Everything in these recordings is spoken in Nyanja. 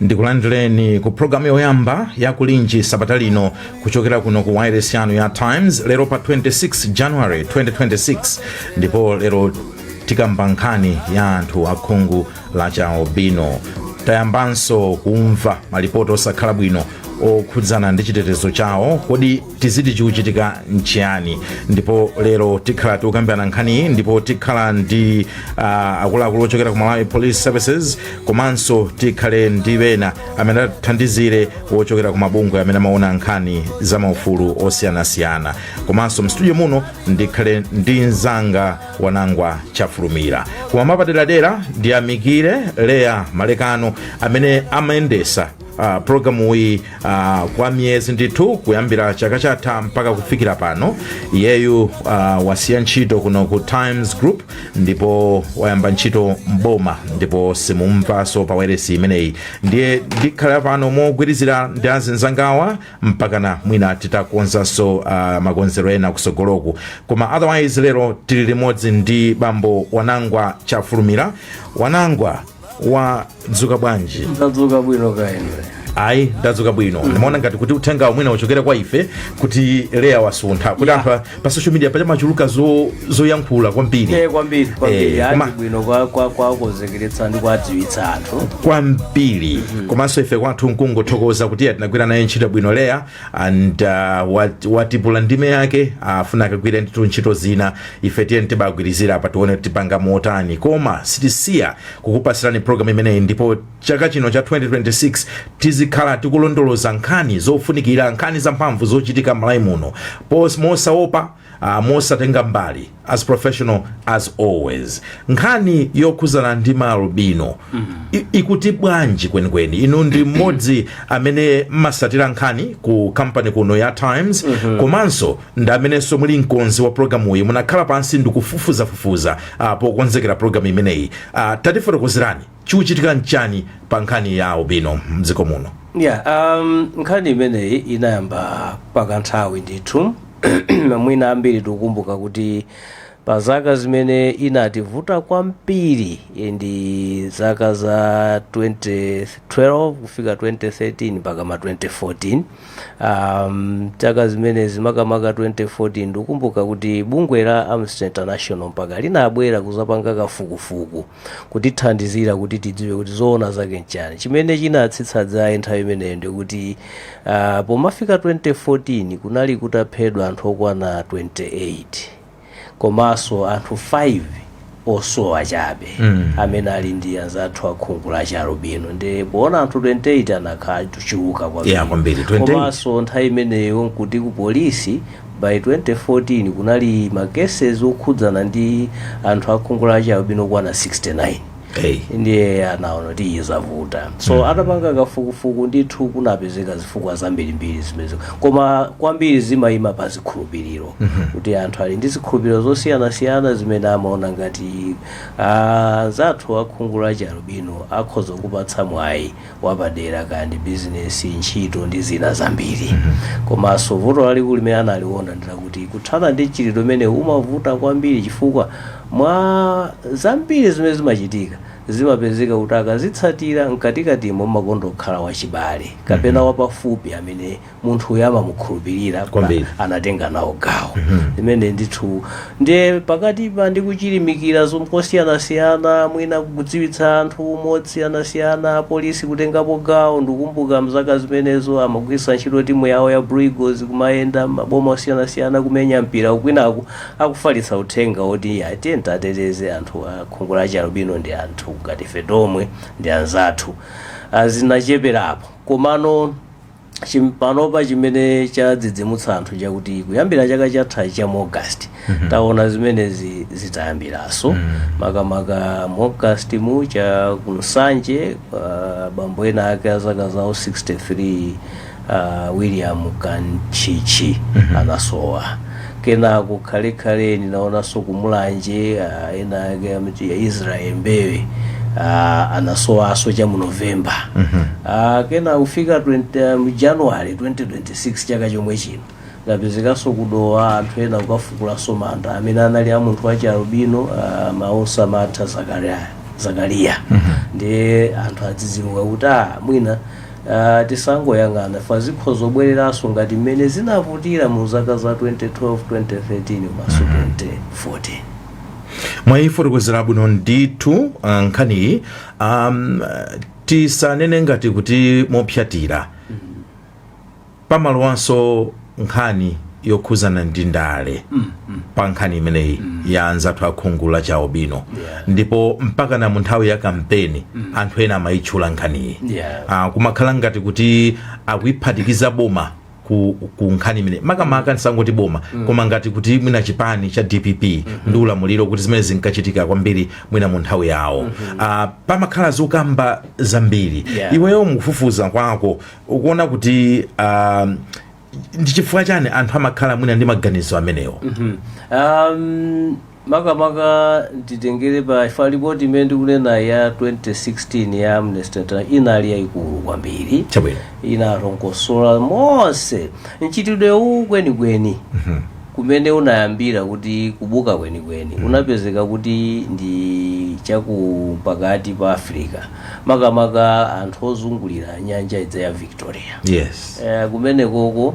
ndikulandireni ku programu yoyamba ya kulinji sabata lino kuchokera kuno ku wireless yanu ya times lero pa 26 january 2026 ndipo lero tikamba nkhani ya anthu a khungu la chialubino tayambanso kumva malipoti osakhala bwino okhudzana ndi chitetezo chawo kodi tiziti chikuchitika nchiyani ndipo lero tikhala tikukambirana nkhani iyi ndipo tikhala ndi uh, akuluakulu ochokera ku malawi police services komanso tikhale ndi bena amene atithandizire ochokera ku mabungwe amene amaona nkhani za maufulu osiyanasiyana komanso mstudio muno ndikhale ndi mzanga wanangwa chafulumira koma mapaderadera ndiyamikire leya malekano amene amayendesa Uh, programu iyi uh, kwa miyezi ndithu kuyambira chaka chatha mpaka kufikira pano iyeyu uh, wasiya ntchito kuno ku times group ndipo wayamba ntchito mboma ndipo simumumvanso pa wailesi imeneyi ndiye ndikhale pano mogwirizira ndi azinzangawa mpakana mwina titakonzanso uh, makonzero ena kusogoloku koma otherwise lero tili limodzi ndi bambo wanangwa chafulumira wanangwa wadzuka bwanji tadzuka bwino kaya inu ayi ndadzuka bwino ndimaona ngati kuti uthengawu mwina uchokere kwa ife kuti leya wasuntha kuti anthu a- pa social media paja pamachuluka zo- zoyankhula kwambiri e kwambiri kwambiri Eh, koma- ati bwino kwa- kwa- kuwakonzekeretsa ndi kuwadziwitsa anthu kwambiri komanso ife kwathu nkungothokoza kuti tinagwira naye ntchito bwino leya and uh, wat- wapalira ndime yake afuna akagwire ndithu ntchito zina ife tiyeni tibagwirizira apa tione kuti tipanga motani koma sitisiya kukupasirani program imeneyi ndipo chaka chino cha 2026 tizikhala tikulondoloza nkhani zofunikira nkhani zamphamvu zochitika m'malawi muno mosaopa Ah, mosatenga mbali as professional as always nkhani yokhuzana ndi maalubino i- ikuti bwanji kwenikweni inu ndi mmodzi amene mmasatira nkhani ku kampani kuno ya times komanso ndi amenenso muli mkonzi wa programu iyi munakhala pansi ndikufufuzafufuza ah, pokonzekera programu imeneyi Ah, tatifotokozerani Chikuchitika nchani pa nkhani ya albino mdziko muno? Yeah, um, nkhani imeneyi inayamba pakanthawi ndithu mwina ambiri tikukumbuka kuti pa zaka zimene inativuta kwambiri eh, ndi zaka za 2012 kufika 2013 mpaka ma 2014 um, zaka zimenezi makamaka 2014 ndikukumbuka kuti bungwe la amnesty international mpaka linabwera kuzapanga kafukufuku kutithandizira kuti tidziwe kuti zoona zake nchani chimene chinatsitsa dzaye nthawi imeneyo ndikuti uh, pomafika 2014 kunali kutaphedwa anthu okwana 28 komanso anthu 5 osowa chabe mm. amene ali ndi anzathu akhungu la chialubino ndi poona anthu 28 anakhala chochuluka Yeah, kwambiri, 28. komanso nthawi imeneyo nkuti ku polisi By 2014 kunali ma cases okhudzana ndi anthu akhungu la chialubino okwana 69 Hey. ndiye anaona kuti izi zavuta so atapanga kafukufuku ndithu kunapezeka zifukwa zambirimbiri zimenezo koma kwambiri zimayima pa zikhulupiriro kuti anthu ali ndi zikhulupiriro zosiyanasiyana zimene amaona ngati anzathu akhungu la chialubino akhoza kuwapatsa mwayi wapadera kaya ndi bizinesi ntchito ndi zina zambiri komanso vuto lalikulu limene analiona ndilakuti kuthana ndi mchitidwe umene umavuta kwambiri chifukwa mwa zambiri zimene zimachitika zimapezeka kuti akazitsatira mkatikatimo mumakondokhala wachibale kapena wapafupi amene munthuyo amamukhulupirira pa Kwambiri. anatenga nawo gawo limene ndithu ndiye pakatipa ndi kuchilimikira zomwe kosiyanasiyana mwina kudziwitsa anthu mosiyanasiyana apolisi kutengapo gawo ndikumbuka mzaka zimenezo amagwiritsa ntchito timu yawo ya Blue Eagles kumayenda maboma osiyanasiyana kumenya mpira kwinaku akufalitsa uthenga woti tiyeni titeteze anthu a khungu la chialubino ndi anthu ngati ife tomwe ndi anzathu Ah, zinacheperapo komano chim- panopa chimene chadzidzimutsa anthu chakuti kuyambira chaka chatha cha mu august taona zimenezi zitayambiraso makamaka mu august mu cha ku Nsanje ah, bambo ena ake a zaka zawo 63 ah, William Kanchichi anasowa Kenako tikhalekhale tinaonanso ku Mulanje ah, ena ake amati a Israel Mbewe ah, anasowanso cha mu November Ah, kenako kufika 20, mu January 2026 chaka chomwe chino kunapezekanso ku Dowa anthu ena kukafukulanso manda amene anali a munthu wachialubino ah, Mausamatha Zakaria, Zakaria. ndiye anthu adzidzimuka kuti ah, mwina Ah, tikangoyang'ana apa zikhoza kubwereranso ngati mmene zinavutira mu zaka za 2012 2013 komanso 2014 mwayifotokozera bwino ndithu ah, nkhaniyi um, tisanene ngati kuti mopsatira pamalowanso nkhani yokhuzana ndi ndale pa nkhani imeneyi ya anzathu a khungu la chialubino Yeah. ndipo mpakana munthawi ya kampeni anthu ena amayitchula nkhaniyi Yeah. Ah, kumakhala ngati kuti akuyiphatikiza boma ku, ku nkhani imene makamaka ndisangoti boma koma ngati kuti mwina chipani cha dpp ndi ulamuliro kuti zimene zinkachitika kwambiri mwina mu nthawi yawo Ah, pamakhala zokamba zambiri Yeah. iweyo mukufufuza kwako ukuona kuti um, ndi chifukwa chani anthu amakhala mwina ndi maganizo amenewo um, makamaka nditengere pa ija ripoti imene ndikunena ya 2016 ya amnesty International inali yayikulu kwambiri chabwino inarongosola monse mchitidwe uwu kwenikweni kumene unayambira kuti kubuka kwenikweni unapezeka kuti ndi chaku pakati pa africa makamaka anthu ozungulira nyanja ija ya victoria yes Eh, kumenekoko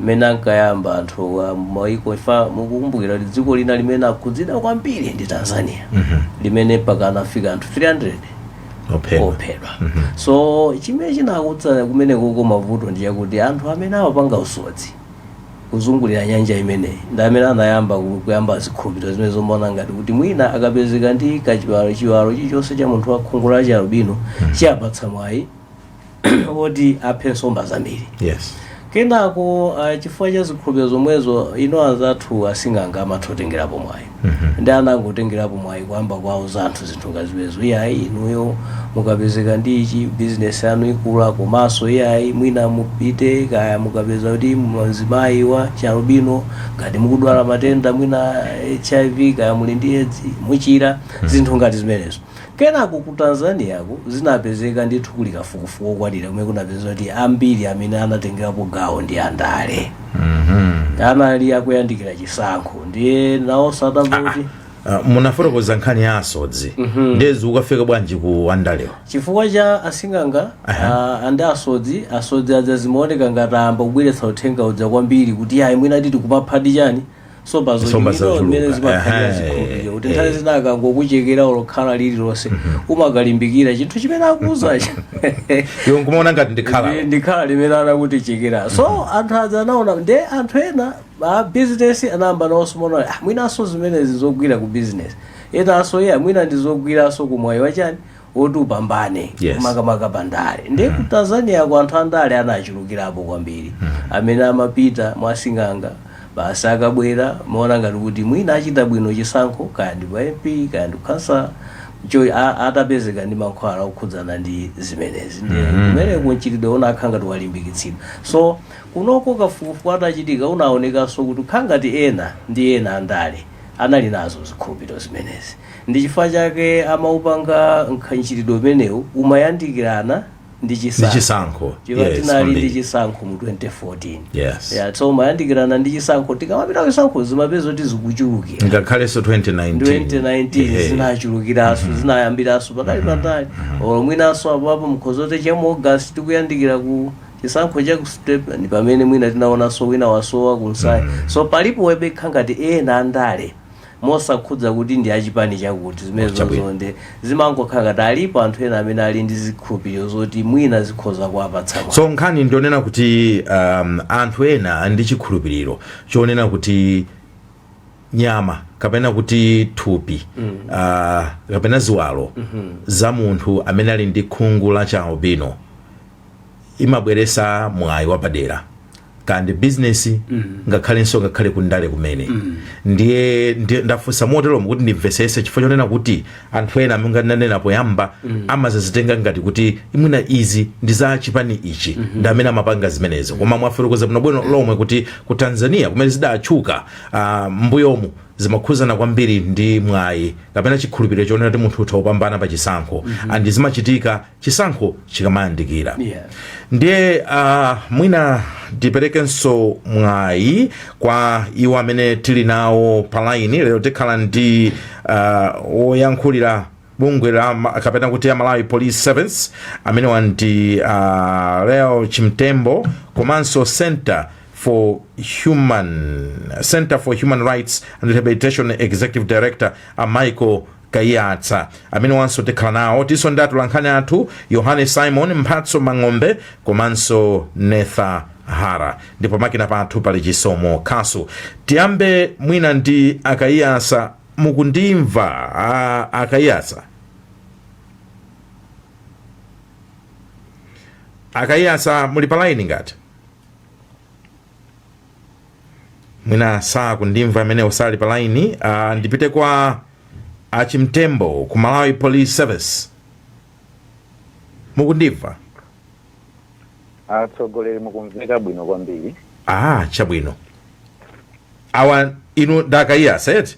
mmene ankayamba anthu a maiko ija mukukumbukira kuti dziko lina limene akhudzidwa kwambiri ndi tanzania limene mpaka anafika anthu 300 ophedwa ophedwa so chimene chinakutsa kumenekoko mavuto ndi chakuti anthu amene amapanga usodzi kuzungulira nyanja imeneyi ndi amene anayamba ku- kuyamba zikhulupiriro zimene zomaona ngati kuti mwina akapezeka ndi kachiwalo chiwalo chilichonse cha munthu wa khungu la chialubino chiwapatsa mwayi woti aphe nsomba zambiri yes kenako ah, chifukwa cha zikhulupiriro zomwezo inonso anzathu asing'anga amatha kutengerapo mwayi ndi anangotengerapo mwayi kuyamba kuwauza anthu zinthu ngati zimenezo iyayi inuyo mukapezeka ndi ichi bizinesi yanu ikula komanso iyayi mwina mupite kaya mukapeza kuti mzimayi wa chialubino ngati mukudwala matenda mwina hiv kaya muli ndi edzi muchira zinthu ngati zimenezo Kenako ku Tanzaniaku zinapezeka ndithu kuli kafukufuku wokwanira kumene kunapezeka kuti ambiri amene anatengerapo gawo ndi andale anali akuyandikira chisankho ndiye nawonso atamva kuti Ah, munafotokoza nkhani ya asodzi ndiye zikukafika bwanji ku andalewa chifukwa cha asing'anga ah, andi asodzi asodzi aja zimaoneka ngati ayamba kubweretsa uthenga uja kwambiri kuti ayi mwina tikuphadi chani nsomba Nsomba zochuluka zochuluka. mmene zimakhalira Ehe. zikhulupiriro kuti nthawi Eh. zina akangokuchekera olo khala lililonse umakalimbikira chinthu chimene akuuzacho iwe nkumaona ngati ndi khala Ndi- ndi khala limene anakutichekera so anthu aja anaona nde anthu ena a bizinesi anayamba nawonso kumaona ah, mwinanso zimenezi zogwira ku bizinesi enanso iye mwina ndizogwiranso ku mwayi wa chani woti upambane Yes. makamaka pa ndale ndiye ku tanzania ku anthu andale anachulukirapo kwambiri amene amapita mwasing'anga basi akabwera amaona ngati kuti mwina achita bwino chisankho kaya ndi pa mp kaya ndi ukhansala so a- atapezeka ndi mankhwala okhudzana ndi zimenezi ndiye kumeneko mchitidwe unakhala ngati walimbikitsidwa so kunoko kafukufuku atachitika unaonekanso kuti kukhala ngati ena ndi ena andale anali nazo zikhulupiriro zimenezi Ndi chifukwa chake amaupanga mchitidwe umenewu umayandikirana ndi Ndi chisankho. chisankho. Chifukwa Yes, tinali ndi kwambiri. chisankho mu 2014. Yes. Yeah, so umayandikirana ndi chisankho tikamapita chisankho timapeza kuti zikuchulukira. Ngakhalenso 2019. 2019 Ehe. zinachulukiraso zinayambiraso patali patali olo mwinaso apapa mukhoza note cha mu august tikuyandikira ku chisankho cha ku september ndi pamene mwina tinaonaso wina wasowa kunsayi so palipo webekha ngati ena andale mosakhudza kuti ndi achipani chakuti zimenezozo nde zimangokhala ngati alipo anthu ena amene ali ndi zikhulupiriro zoti mwina zikhoza kuwapatsa mwayi so nkhani ndi yonena kuti um, anthu ena ali ndi chikhulupiriro chonena kuti nyama kapena kuti thupi mm. uh, kapena ziwalo mm -hmm. za munthu amene ali ndi khungu la chialubino imabweresa mwayi wapadera kaya ndi bizinesi ngakhalenso ngakhale kundale kumene ndiye ndiye ndafunsa moteromo kuti ndimvesese chifukwa chonena kuti anthu ena mmene ndanena poyamba amadzazitenga ngati kuti iih mwina izi ndi za chipani ichi ndi amene amapanga zimenezo koma mwafotokoza bwinobwino lomwe kuti ku tanzania kumene zidatchuka ah, mbuyomu zimakhuzana kwambiri ndi mwayi kapena chikhulupiriro chonena kuti munthu atha kupambana pa chisankho and zimachitika chisankho chikamayandikira Yeah. ndiye uh, mwina tiperekenso mwayi kwa iwo amene tili nawo palaini lero tikhala ndi uh, woyankhulira bungwe la ma- kapena kuti a malawi police service amenewa ndi a uh, leo chimtembo komanso center for human center for human rights and rehabilitation executive director a michael kaiyatsa amenewanso tikhala nawo tilinso ndi atulankhani athu yohane simon mphatso mang'ombe komanso netha hara ndipo pamakina pathu pali chisomo khasu tiyambe mwina ndi a kaiyatsa mukundimva ah, a kaiyatsa a kaiyatsa muli pa laini ngati mwina sakundimva mwinanso sali pa laini uh, ndipite kwa achimtembo ku malawi police service mukundimva atsogoleri mukumveka bwino kwambiri ah chabwino awa inu ndi a kaiyatsa eti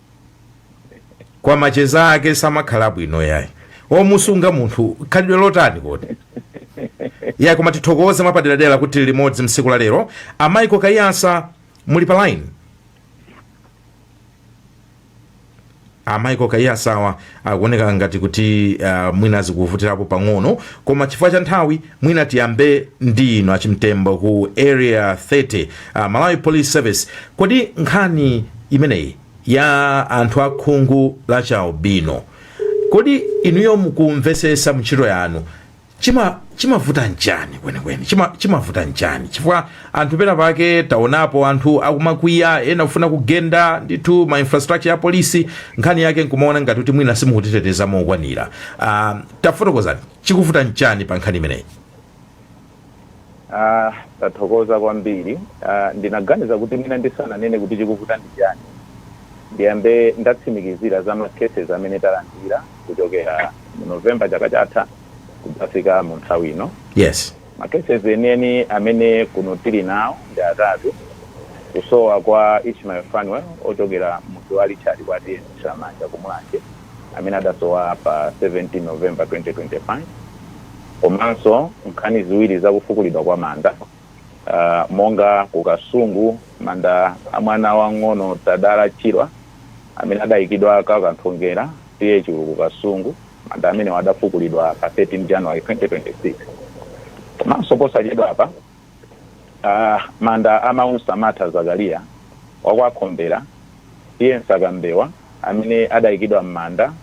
kwa macheza ake samakhala bwino yayi omusunga munthu khalidwe lotani kodi yayi koma tithokoze mwapaderadera kuti tili limodzi msiku la lero a Michael Kayatsa muli pa line a Michael Kayatsa awa akuoneka ngati kuti uh, mwina zikuvutirapo pang'ono koma chifukwa cha nthawi mwina tiyambe ndi inu achimtembo ku area 30 uh, malawi police service kodi nkhani imeneyi ya anthu akhungu la chialubino kodi inuyo mukumvesesa mntchito yanu chima chimavuta nchani kwenikweni chima chimavuta nchani chifukwa anthu pena pake taonapo anthu akumakwiya ena kufuna kugenda ndithu ma infrastructure a polisi nkhani yake nkumaona ngati kuti mwina simukutiteteza mokwanira uh, tafotokozani chikuvuta nchani pa nkhani imeneyi Aaa tathokoza kwambiri aaa ndinaganiza kuti mwina ndisananene kuti chikuvuta ndi chani ndiyambe ndatsimikizira za ma cases amene talandira kuchokera mu November chaka chatha kudzafika mu nthawi ino. Yes. Ma cases enieni amene kuno tili nawo ndi atatu, Kusowa kwa Ishmael Fanuel ochokera m'mudzi wa Richard kwa T/A Nthiramanja ku Mulanje, amene adasowa pa 17 November 2025 komanso nkhani ziwiri za kufukulidwa kwa manda uh, monga ku Kasungu manda a mwana wang'ono Tadala Chirwa amene adayikidwa kwa Kanthongera T/A ku Kasungu manda amenewa adafukulidwa pa 13 January 2026 komanso posachedwapa Aaa manda a Maunsamatha Zakaria wa kwa Khombera T/A Msakambewa amene adaikidwa mmanda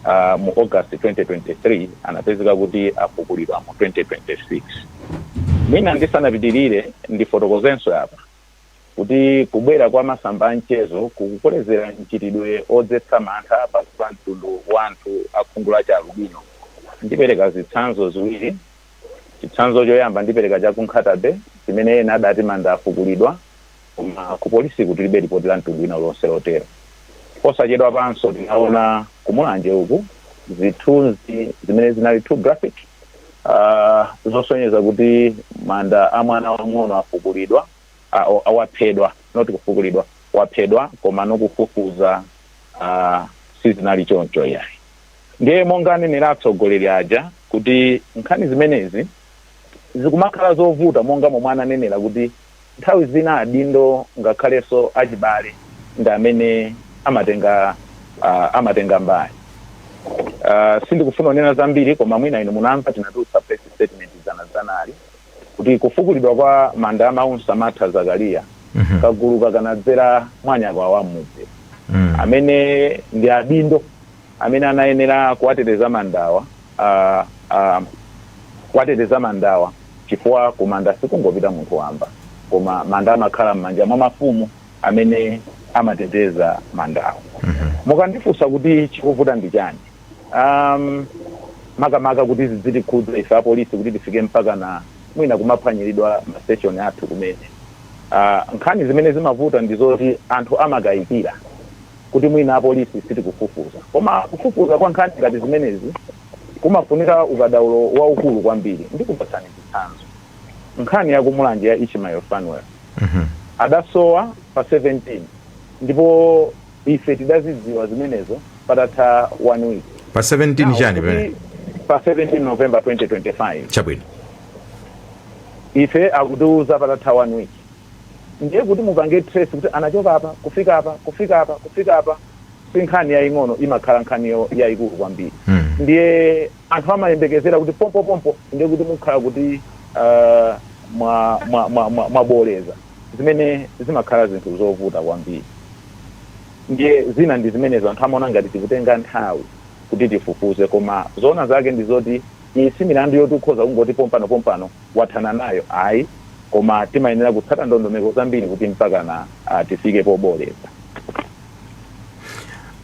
a mu August 2023 anapezeka kuti afukulidwa mu 2026. Mwina ndisanapitilire ndifotokozenso apa kuti kubwera kwa masamba a mchezo kukukolezera mchitidwe odzetsa mantha pakati pa mtundu wa anthu a khungu la chi alubino. Ndipereka zitsanzo ziwiri. Chitsanzo choyamba ndipereka cha ku Nkhata-bay chimene ena adati manda afukulidwa koma ku polisiku tilibe lipoti la mtundu wina uliwonse lotero. Posachedwapanso tinaona ku Mulanje uku zithunzi zimene zinali too graphic zosonyeza kuti manda a mwana wamng'ono afukulidwa, aa waphedwa not kufukulidwa, waphedwa komano kufufuza sizinali choncho iyayi. ndiye monga anenera atsogoleri aja kuti nkhani zimenezi zikumakhala zovuta monga momwe ananenera kuti nthawi zina adindo ngakhalenso achibale ndi amene amatenga uh, amatenga mbali uh, sindikufuna kunena zambiri koma mwina inu munamva tinatulutsa press statement dzanadzanali kuti kufukulidwa kwa manda a Maunsamatha Zakaliya, kaguluka kanadzera mwa anyakwawa am'mudzi, amene ndi adindo amene anayenera kuwateteza mandawa, a, a, kuwateteza mandawa chifukwa kumanda sikungopita munthu wamba, koma manda amakhala m'manja mwa mafumu amene amateteza mandawa. Mukandifunsa kuti chikuvuta ndi chani? um, makamaka kuti zidzitikhudza ife apolisi kuti tifike mpaka na mwina kumaphwanyiridwa mastation athu kumene uh, nkhani zimene zimavuta ndi zoti anthu amakayikira kuti mwina apolisi sitikufufuza koma kufufuza kwa nkhani ngati zimenezi kumafunira ukadaulo waukulu kwambiri ndikupatsani chitsanzo nkhani yakumulanje ya ishmael fanuel adasowa pa 17 ndipo Ife tidazidziwa zimenezo patatha 1 week. Pa 17 chani pamenepa? Pa 17 November 2025. Chabwino. Ife akutiuza patatha 1 week. Ndiye kuti mupange trace kuti anachoka apa kufika apa, kufika apa, kufika apa, si nkhani yaying'ono imakhala nkhani yayikulu kwambiri. Ndiye anthu amayembekezera kuti pompopompo ndiye kuti mukhala kuti mwabooleza. zimene zimakhala zinthu zovuta kwambiri ndiye zina ndi zimenezo anthu amaona ngati tikutenga nthawi kuti tifufuze koma zoona zake ndi zoti iyi si milandu yoti ukhoza kungoti pompanopompano wathana nayo ayi koma timayenera kutsata ndondomeko zambiri kuti mpakana ah, tifike pobooleza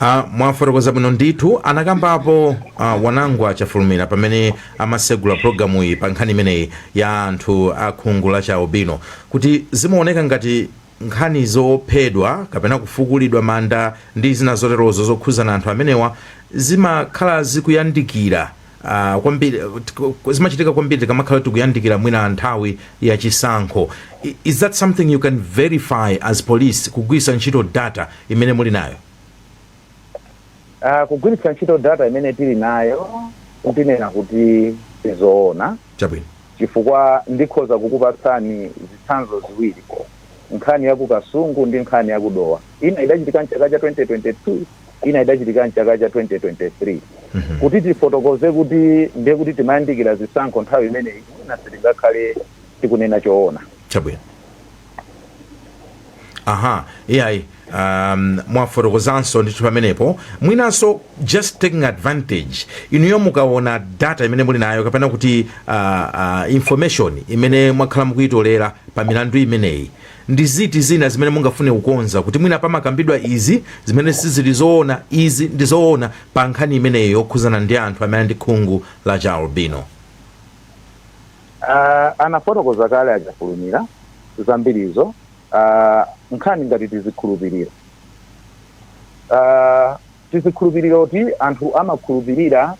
Uh, mwafotokoza bwino ndithu anakambapo uh, wanangwa chafulumira pamene amasegula programu iyi pa nkhani imeneyi ya anthu a khungu la chaubino kuti zimaoneka ngati nkhani zophedwa kapena kufukulidwa manda ndi zina zoterozo zokhuzana anthu amenewa zimakhala zikuyandikira Ah, kwambiri tk- zimachitika kwambiri tikamakhala tikuyandikira mwina nthawi ya chisankho I- is that something you can verify as police kugwiritsa ntchito data imene muli nayo Ah, kugwiritsa ntchito data imene tili nayo ndinena kuti sizoona chabwino chifukwa ndikhoza kukupatsani zitsanzo ziwiri nkhani ya ku kasungu ndi nkhani ya kudowa ina idachitika mchaka cha 2022 ina idachitika m'chaka cha 2023 kuti tifotokoze kuti ndiye kuti timayandikira zisankho nthawi imeneyi, mwina sitingakhale tikunena choona. chabwino aha iyayi um, mwafotokozanso ndithu pamenepo mwinanso just taking advantage inuyo mukaona data imene muli nayo kapena kuti uh, uh, information imene mwakhala mukuyitolera pa milandu imeneyi Ndi ziti zina zimene mungafune kukonza kuti mwina pamakambidwa izi zimene sizili zoona, izi ndi zoona pa nkhani imeneyo yokhuzana ndi anthu amene ndi khungu la chialubino? Aaah anafotokoza kale a Chafulumira zambirizo aaah nkhani ngati tizikhulupiriro aaah tizikhulupiriro ti anthu amakhulupirira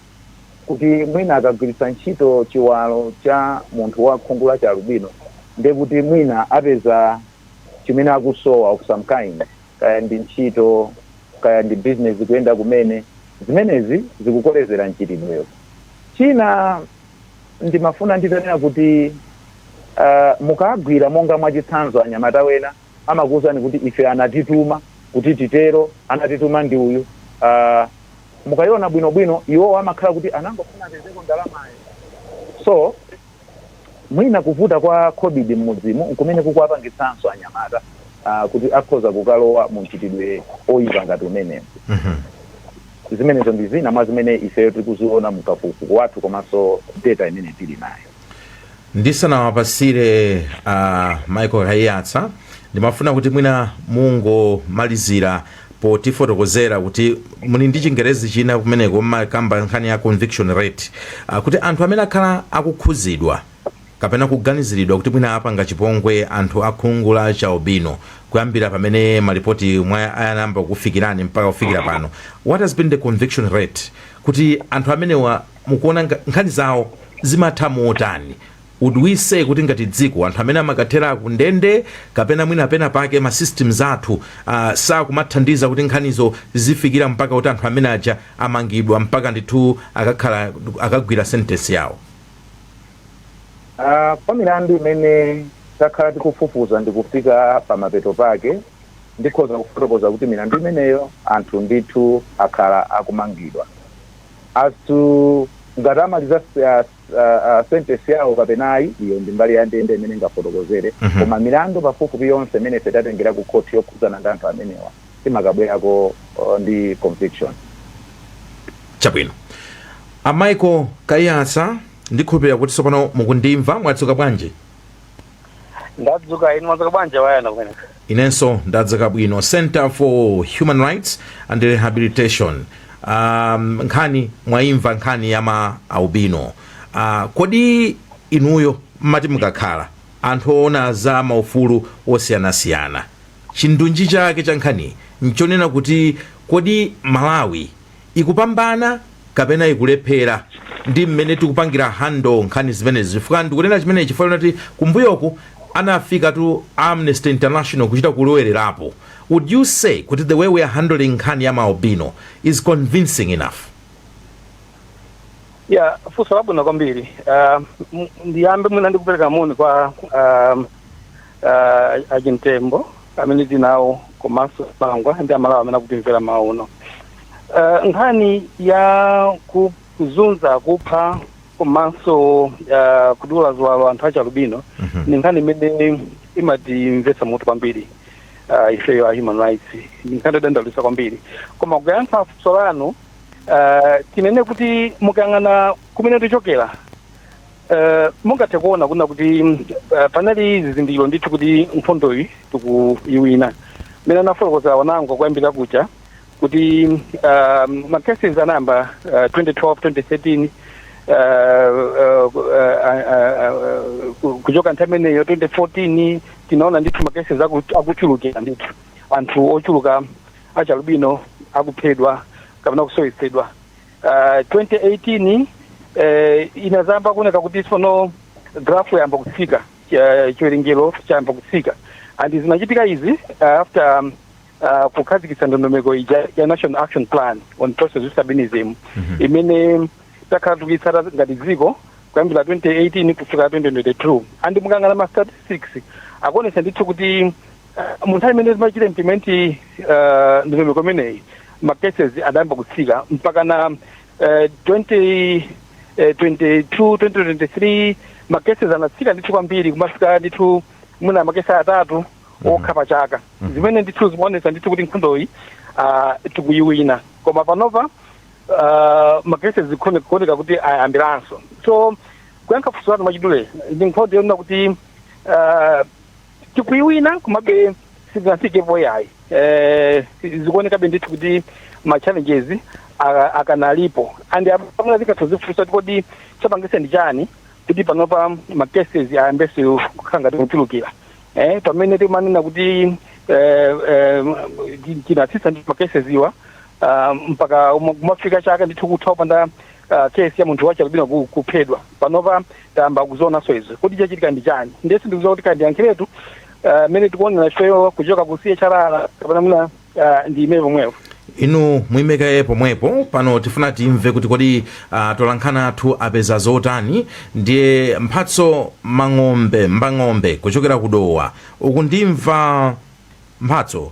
kuti mwina akagwiritsa ntchito chiwalo cha munthu wa khungu la chialubino ndiye kuti mwina apeza chimene akusowa of some kind, kaya ndi ntchito, kaya ndi business kuyenda kumene. Zimenezi zikukolezera mchitidwewo. China ndimafuna nditanena kuti mukagwira monga mwachitsanzo anyamata wena. amakuuzani kuti ife anatituma kuti titero, anatituma ndi uyu. Uh, mukaiona bwinobwino iwowo amakhala kuti anangofuna apezeko ndalamayo so mwina kuvuta kwa covid mmudzimu nkumene kukuwapangitsanso anyamata uh, kuti akhoza kukalowa mu mchitidwe oyipa ngati umenewo zimenezo ndi zina mwa zimene ifeyo tikuziona mkafukufuku wathu komanso data imene tili nayo ndisanawapasire a michael kaiyatsa ndimafuna kuti mwina mungomalizira potifotokozera kuti muli ndi chingerezi china kumeneko mmakamba nkhani ya conviction rate ah, kuti anthu amene akhala akukhuzidwa kapena kuganiziridwa kuti mwina apanga chipongwe anthu akhungu la chialubino kuyambira pamene malipoti wa ayamba kukufikirani mpaka kufikira pano what has been the conviction rate kuti anthu amenewa mukuona nga, nkhani zawo zimatha motani would we say kuti ngati dziko anthu amene amakathera ku ndende kapena mwina pena pake ma systems athu uh, sakumathandiza kuti nkhanizo zifikira mpaka kuti anthu amene aja amangidwa mpaka ndithu akakhala akagwira sentence yawo Ah, kwa milandu imene takhala tikufufuza ndi kufika pa mapeto pake ndikhoza kufotokoza kuti milandu imeneyo anthu ndithu akhala akumangidwa as to ngati amaliza s- ah, s- ah, ah, sentence yawo kapena ayi iyo ndi mbali ya ndende imene ingafotokozere Mhm. koma milandu pafupifupi yonse imene ife tatengera ku khoti yokhudzana ndi anthu amenewa timakabwerako uh, ndi conviction chabwino a michael kaiyatsa ndikhulupirira kuti tsopano mukundimva mwadzuka bwanji ndadzuka inu mwadzuka bwanji wayana kumeneko inenso ndadzuka bwino center for human rights and rehabilitation um, nkhani mwayimva nkhani ya ma albino uh, kodi inuyo mmati mukakhala anthu oona za maufulu osiyanasiyana chindunji chake cha nkhani nchonena kuti kodi malawi ikupambana kapena ikulephera ndi mmene tikupangira handle nkhani zimenezi chifukwa ndikunena chimenechi chifukwa choti kumbuyoku anafikatu a amnesty international kuchita kulowererapo would you say kuti the way we are handling nkhani ya maalbino is convincing enough? Yeah, funso labwino kwambiri. Uh, ndiyambe mwina ndikupereka moni kwa um, uh, a Chimtembo amene tinawo komanso pangwa ndi Amalawi amene akutimvera mmawa uno. Uh, nkhani ya kuzunza kupha komanso uh, kudula ziwalo anthu achalubino Mhm. ni nkhani imene imatimvetsa mutu kwambiri uh, ifeyo a human rights ni nkhani yodandaulitsa kwambiri koma kuyankha funso lanu uh, tinene kuti mukayang'ana kumene tichokera uh, mungathe kuona kunena kuti uh, panali zizindikiro ndithu kuti nkhondoyi tikuyiwina mmene anafotokozera wanango kuyambira kuja kuti uh, macases anayamba uh, 2012 2013 Uh, uh, uh, uh, uh, kuchoka nthawi imeneyo 2014 tinaona ndithu makesi akuchulukira ndithu anthu ochuluka achalubino akuphedwa kapena kusowetsedwa uh, 2018 eh, inadzayamba kuoneka kuti sono graph yayamba kutsika eh, chiwerengero chayamba kutsika and zinachitika izi uh, after um, uh, kukhazikitsa ndondomeko ija ya national action plan on persons with albinism imene takhala tikuyitsata ngati dziko kuyambira 2018 kufika 2022 and mukayang'ana ma statistics akuonesa ndithu kuti mu nthawi imene timachita implement eh, ndondomeko imeneyi ma cases adayamba kutsika mpakana eh, 20 eh, 22 2023 ma cases anatsika ndithu kwambiri kumafika ndithu mwina makesi atatu okha pa chaka zimene ndithu zimaonesa ndithu kuti nkhondoyi ah, tikuyiwina koma panopa ah, ma cases zikuone- kuoneka kuti ayambiranso so kuyankha funso lanu mwachidule ndi nkhondo yonena kuti ah, tikuiwina komabe sitinafikepo yayi eh, zikuonekabe ndithu kuti ma challenges a- akanalipo and mwina tingathe kuzifunsa kuti kodi chapangisa ndi chani kuti panopa ma cases ayambenso kukhala ngati kuchulukira eh, pamene timanena kuti eh, eh, tinatsitsa ndi ma cases awa ah, mpaka uma- kumafika chaka ndithu kutha kupanda uh, case ya munthu wachalubino ku- kuphedwa panopa tayamba kuzionanso izi kuti chachitika ndi chani ndiye sindikuziwa kuti kaya ndiyankhiretu uh, mmene tikuonera ifeyo kuchoka ku chrr kapena mwina uh, ndiime pomwepo inu muimekaye pomwepo pano tifuna timve kuti kodi uh, atolankhani athu apeza zotani ndiye mphatso mang'ombe mbang'ombe kuchokera ku dowa uku ndimva mphatso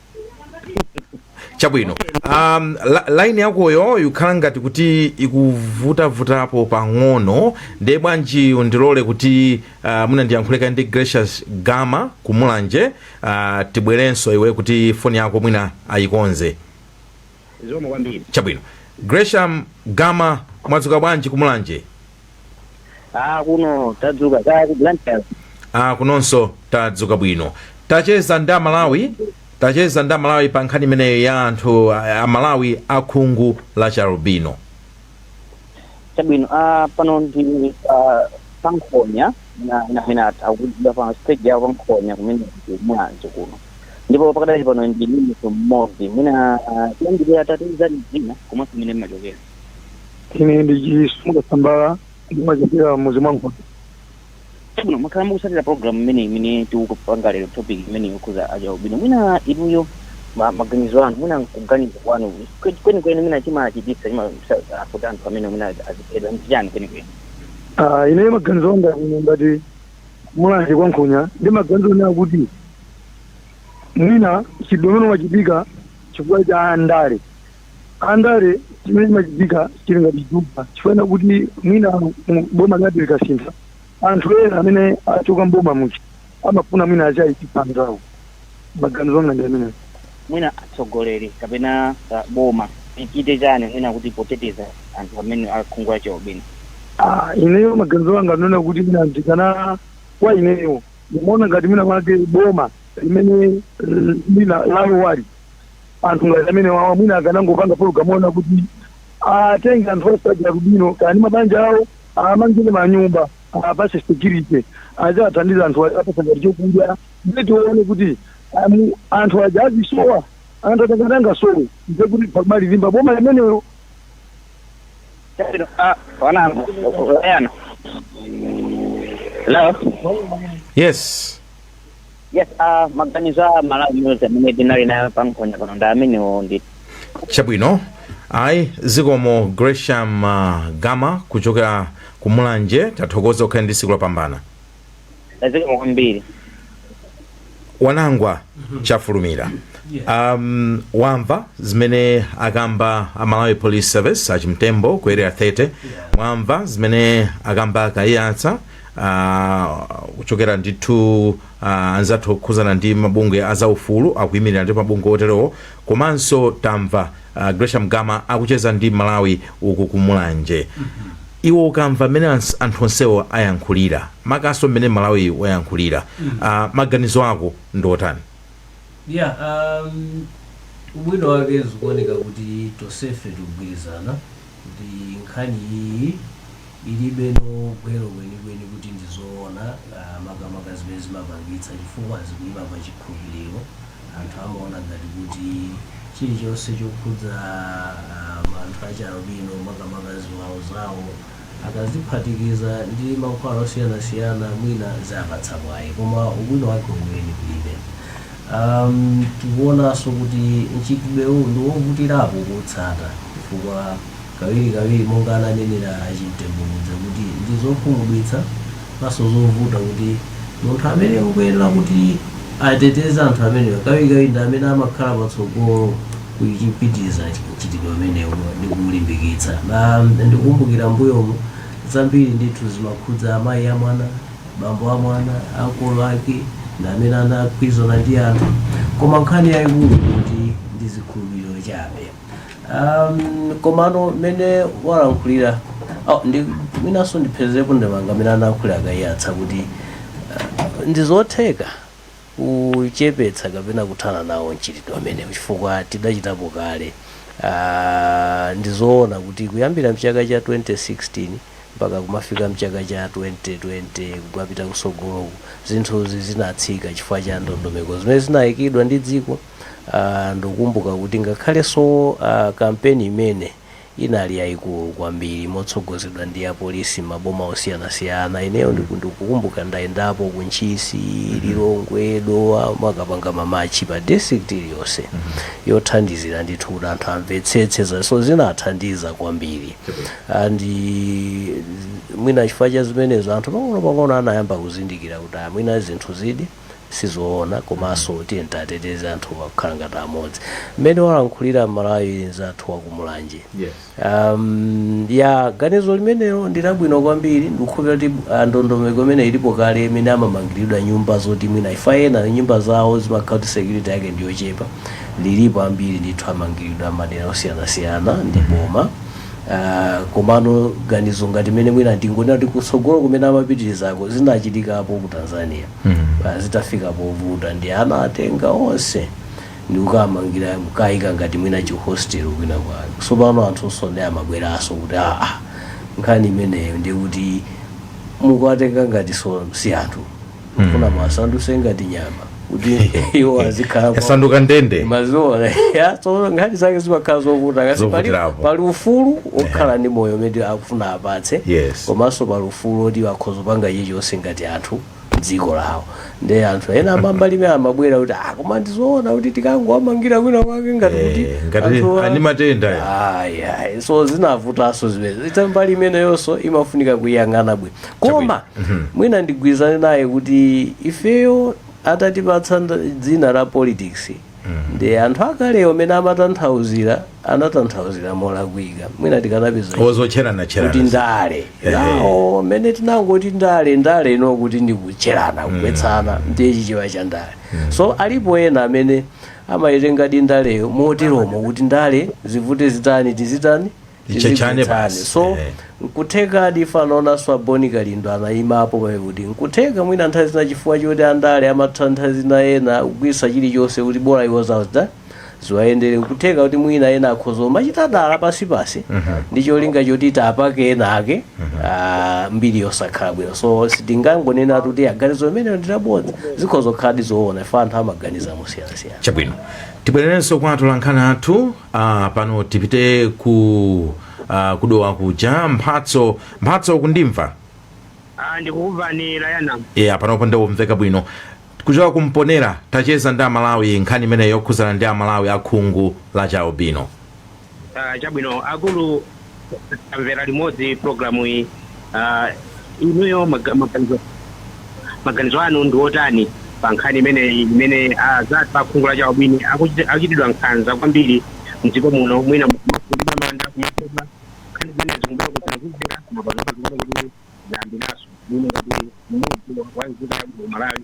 chabwino um, la, line yakoyo ikukhala ngati kuti ikuvutavutapo pang'ono ndiye bwanji undilole kuti uh, mwina ndiyankhule kaye ndi grecium gama kumulanje uh, tibwerenso iwe kuti foni yako mwina ayikonze Zikomo kwambiri. Chabwino. Grecium Gama mwadzuka bwanji ku Mulanje? Ah, kuno tadzuka kaya ku Blantyre. Ah, kunonso tadzuka bwino. Tacheza ndi Amalawi, tacheza ndi Amalawi pa nkhani imeneyo ya anthu a- Amalawi akhungu la chialubino. chabwino ah, pano ndi ah, pankhonya na- na- inati akudya pa stage yawo pankhonya kumene kumwanzo kuno ndipo pakadali pano ndi mimiso mmodzi mwina ah, tiyambire atatiuza dzina komanso mene mmachokera ine ndi chisunga sambala ndimachokera muzi mwa nkhonya Chabwino, mwakhala mukusatira program imene imene tikupanga lero topic imene yokhudza achialubino mwina inuyo ma- maganizo anu mwina kuganiza kwanu kwe- kwenikweni mwina chimachititsa chimafuta anthu amene mwina aziphedwa ndi chani kwenikweni Ah, ine maganizo anga ine ngati mulanje kwa nkhonya ndi maganizo onena kuti mwina mchitidwe umenewu umachitika chifukwa cha ndale andale chimene chimachitika chili ngati juba chifukwa kuti mwina boma linati likasintha anthu ena amene achoka mboma muja amafuna mwina achaipisa anzawo maganizo anga ndi amenewo mwina atsogoleri kapena uh, boma ichite chani mwina kuti poteteza anthu amene akhungu la chialubino Ah, ineyo maganizo anga ndi onena kuti mwina ndikana kwa ineyo ndimaona ngati mwina mwake boma limene eh, lina lalowali Anthu ngati amenewawa mwina akanangopanga pologalamu yonena kuti atenge anthu onse achialubino kaya ndi mabanja awo awamangire manyumba, awapatse security, aziwathandiza anthuwa aziwapatsa ngati chokudya ndiye tione kuti anthu aja azisowa? Anthu aja ngati angasowe ndiye kuti pamalilimba boma limenelo. Chabwino, ah, Wanangwa. Hello? Yes. yes uh, maganizo a malawi amene tinali nawo pa nkhonya pano ndi amenewo ndi chabwino ayi zikomo grecium uh, gama kuchokera ku mulanje tathokoza ukhale ndi siku lopambana zikomo kwambiri wanangwa chafulumira um, wamva zimene akamba a malawi police service achimtembo ku area 30 mwamva zimene akamba a kaiyatsa uh, kuchokera ndithu uh, anzathu okhuzana ndi mabungwe a zaufulu akuyimirira ndi mabungwe oterowo komanso tamva uh, gresham gama akucheza ndi mmalawi uku ku mulanje iwe ukamva mmene ans- anthu onsewo ayankhulira makanso mmene mmalawi wayankhulira uh, maganizo ako ndi otani yeah um, ubwino wake zikuoneka kuti tosefe tikugwirizana kuti nkhani iyiyi ilibeno gwero kwenikweni kuti ndi zoona ah, makamaka zimene zimapangitsa chifukwa zikuima pa chikhulupiriro anthu amaona ngati kuti chilichonse chokhudza ah, ma anthu achialubino makamaka ziwalo zawo akaziphatikiza ndi mankhwala osiyanasiyana mwina ziwapatsa mwayi koma ubwino wake weniweni kulibe Um, tikuonanso kuti mchitidwewu ndi wovutirapo kuutsata chifukwa kawirikawiri monga ananenera a chimtembo muja kuti ndi zokhumudwitsa komanso zovuta kuti munthu amene akuyenera kuti ateteze anthu amenewa kawirikawiri ndi amene amakhala patsogolo kuchipitiriza mchitidwe umenewu ndi kuulimbikitsa na ndikukumbukira mbuyomu zambiri ndithu zimakhudza amayi a mwana bambo a mwana ankolo ake ndi amene anagwirizana ndi anthu koma nkhani yayikulu nkuti ndi zikhulupiriro chabe um, komano mmene walankhulira oh, ndi mwinanso ndipherezepo ndemanga amene analankhulira a kaiyatsa kuti uh, ndi zotheka kuchepetsa kapena kuthana nawo mchitidwe umenewu chifukwa tidachitapo kale. Ndi zoona kuti kuyambira m'chaka cha 2016 mpaka kumafika m'chaka cha 2020 kumapita kutsogoloku, zinthuzi zinatsika chifukwa cha ndondomeko zimene zinaikidwa ndi dziko. Ndikukumbuka kuti ngakhalenso kampeni imene. inali yaikulu kwambiri motsogozedwa ndi apolisi m'maboma osiyanasiyana ineyo ndiku ndikukumbuka ndayendapo ku ntchisi lilongwe dowa amakapanga mamatchi pa district iliyonse yothandizira ndithu kuti anthu amvetsetse za so zinathandiza kwambiri and mwina chifukwa cha zimenezo anthu pang'onopang'ono anayamba kuzindikira kuti ah, mwina zinthuzidi sizoona komanso tiyeni tiateteze anthuwa kukhala ngati amodzi mmene walankhulira mmalawi nzathu wa ku mulanje Yes. um, ya ganizo limenelo ndilabwino kwambiri ndikukhulupira kuti ah, ndondomeko imene ilipo kale imene amamangiridwa nyumba zoti mwina if ena nyumba zawo zimakhala kuti security yake ndiyochepa lilipo ambiri ndithu amangiridwa madera osiyanasiyana ndi boma uh, komano ganizo ngati mene mwina ndingonena kuti kutsogolo kumene amapitirizako zinachitikapo ku tanzania mm. uh, zitafika povuta ndiye anatenga onse ndikukamangira kukayika ngati mwina chihostel kwina kwake tsopano anthu so ndiye amabweranso kuti aa nkhani imeneyo ndikuti mukuwatenga ngati so si anthu kufuna muwasandutse ngati nyama kuti iwo azikhala yasanduka ndende mwaona so nkhani zake zimakhala zovuta kuti pali, Zokutirapo. pali ufulu okhala ndi moyo umene akufuna apatsidwe Yes. komanso pali ufulu oti akhoza kupanga chilichonse ngati anthu mdziko lawo ndi anthu ena a mbali imene amabwera kuti ah koma ndizoona kuti tikangowamangira kwina kwake ngati kuti Eh, ngati anthu a- ali matenda ya. Ayi, ayi. so zinavutanso zimene eti mbali imeneyonso imafunika kuyang'ana bwino koma mwina ndigwirizane naye kuti ifeyo atatipatsa nd- dzina la politics ndiye anthu akalewo amene amatanthauzira anatanthauzira molakwika mwina tikanapeza ozotcherana kutcherana ndale Ehe. now mmene tinangoti ndale ndale you know kuti ndikutcherana kugwetsana ndiye chichewa cha ndale so alipo ena amene amayitengadi ndaleyo moteromo kuti ndale zivute zitani tizitani Tizitchana Tizimvetsane. basi. so Eh. nkutheka ifenso anaonanso a Bon Kalindo anaimapo pamene kuti nkutheka mwina nthawi zina chifukwa choti andale amatha nthawi zina ena kugwiritsa chilichonse kuti bola iwo zawo zida ziwayendere nkutheka kuti mwina ena akhoza umachita dala pansipansi ndi cholinga choti tapake ena ake ah, mbiri yosakhala bwino so sitingangonena kuti ganizo limenelo ndilabodza zikhoza kukhaladi zoona ife anthu amaganiza mosiyanasiyana chabwino tibwererenso kwa atolankhani athu Ah, pano tipite ku ah, ku Dowa kuja mphatso mphatso ukundimva Ah, ndikukumvani layana yeah, panopo ndikumveka bwino kuchoka ku Mponela tacheza ndi amalawi nkhani imeneyo yokhuzana ndi amalawi akhungu la chialubino Ah, chabwino akulu tamvera limodzi programu iyi Ah, inuyo maga- maganizo maganizo anu ndi otani pa nkhani imeneyi imene anzathu akhungu la chialubino akuchiti- akuchitidwa nkhanza kwambiri mdziko muno mwina kumanda kuba mafupa nkhani zimene zikumbuka kuti akuzera koma panopa zikuoneka kuti zayambiranso muno kuti mmodzi wa nzika ya ku malawi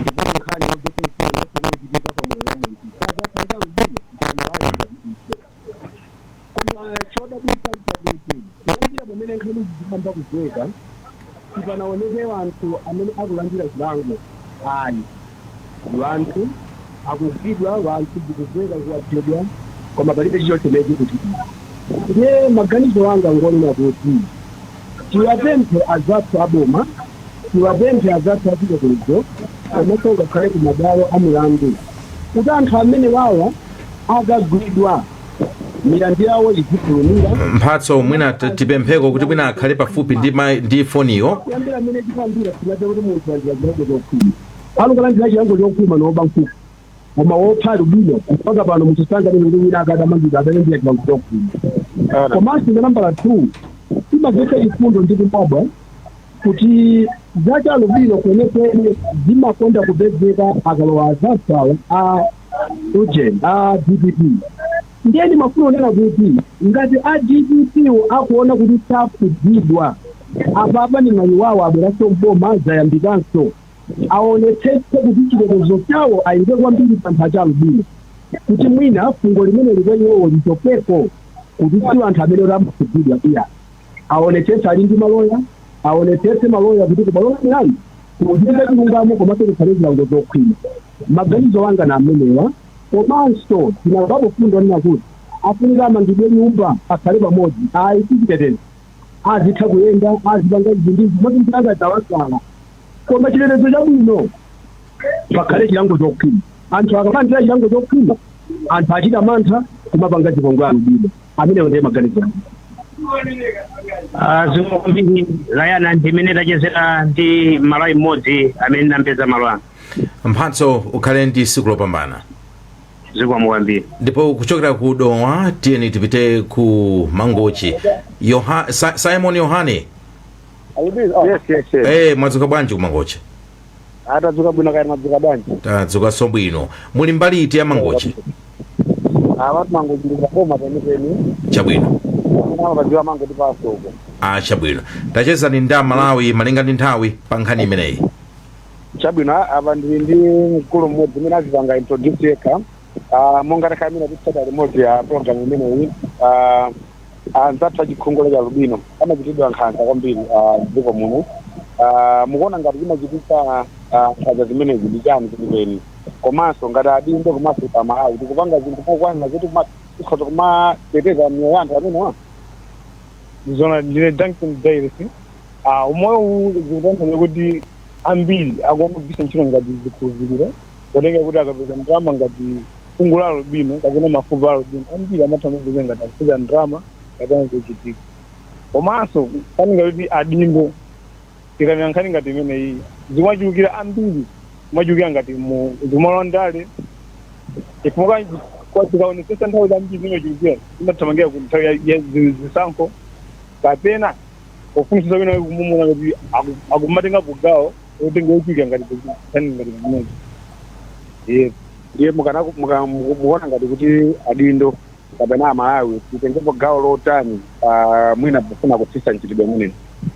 ndipo nkhani ya zofuna zonse zochitika pa moyo wa munthu sazathandiza mzimu mpando wake ngati ife koma chodabwitsa mchakuti kuyambira pamene nkhani zikuyamba kumveka sipanaoneke anthu amene akulandira chilango ayi wanthu akugwidwa wanthu zikumveka kuti aphedwa koma palibe chilichonse chimene chikuchitika ndiye maganizo anga ngonena kuti Tiwapemphe azathu a boma, tiwapemphe azathu achitetezo komaso ngakhale ku mabwalo a milandu kuti anthu amenewawa akagwidwa milandu yawo izifulumila. Mphatso mwina tipempheko kuti mwina akhale pafupi ndi mai ndi foniyo. Kuyambira mmene chiyambira sitimadziwa kuti munthu walandira chilango chopuma. Akukalandira chilango chokhwima ndi woba nkhuku. koma wopha alubino mpaka pano munthu sanganene kuti wina akadamangidwa adalandira chilango chokhwima komanso cha nambala 2 zimavetsa chifundo ndi kudabwa kuti za cha alubino kwenekwene zimakonda kupezeka akalowa azathuwa a ujen a dpp ndiye ndimafuna kunena kuti ngati a dpp wo akuona kuti sakhudzidwa apapa ndi mwayi wawo abweranso mboma zayambikanso aonetsetse kuti chitetezo chawo ayike kwambiri pa anthu acha albino kuti mwina fungo limeneli kwa iwowo lichepeko kuti si anthu amene oti amakhudzidwa iya aonetsetse ali ndi maloya aonetsetse maloya kuti kubwalo la milandu kuchitike chilungamo komanso kukhale zilango zokhwima maganizo anga ndi amenewa komanso tinamvapo fundo yonena kuti afunika amangidwe nyumba akhale pamodzi ayi si chitetezo azitha kuyenda, azipanga izi ndi izi, moti mpaka zawasala. Koma chitetezo chabwino, pakhale chilango chokhwima. Anthu akamalandira chilango chokhwima, anthu achita mantha kumapanga chipongwe alubino. Amenewo ndiye maganizo anga. Ah, zikomo kwambiri layana ndimene tachezera ndi mmalawi mmodzi amene ndamupeza malo ano mphatso ukhale ndi tsiku lopambana zikomo kwambiri ndipo kuchokera ku dowa tiyeni tipite ku mangochi Yoha, Sa, simon yohane yes yes yes hey, mwadzuka bwanji ku mangochi ah tadzuka bwino kaya mwadzuka bwanji tadzukanso bwino muli mbali iti ya mangochi awatu mangochi ndi pa boma penipeni chabwino kama pa dziwe Mangochi pa msika ah, chabwino tachezani ndi amalawi malinga ndi nthawi pa nkhani imeneyi Chabwino, a- apa ndili ndi mkulu mmodzi amene azipanga introduce yekha Ah, monga takhala tikutsata limodzi program imeneyi Ah, anzathu achikhungu la chialubino amachitidwa nkhanza kwambiri ah, m'dziko muno Ah, mukuona ngati chimachititsa ah, nkhanza zimenezi ndi chani chenicheni komanso ngati adindo komanso a malawi tikupanga zinthu mokwanira zoti kuma- tikhoza kumateteza miyoyo ya anthu amenewa zona ndine duncan davis uh, umoyo uwu zikutanthauza kuti ambiri akumagwiritsa ntchito ngati zikhulupiriro potenga kuti akapeza ndalama ngati khungu la albino kapena mafupa a albino ambiri amatha kumapeza ngati akupeza ndalama kapena zochitika komanso paninga kuti adindo Tikanena nkhani ngati imeneyi zimachulukira ambiri zimachulukira ngati zimalowa ndale chifukwa kwa- tikaonetsetsa nthawi zambiri zimachulukira zimathamangira ku nthawi ya- ya zi- zisankho kapena pofunitsitsa wina kumumuna kuti aku- akumatengapo gawo otenga ochulukira ngati nkhani ngati imeneyi yes ndiye mukana- muka- muku- mukuona ngati kuti adindo kapena amalawi titengepo gawo lotani pa mwina pofuna kutsitsa mchitidwe umenewu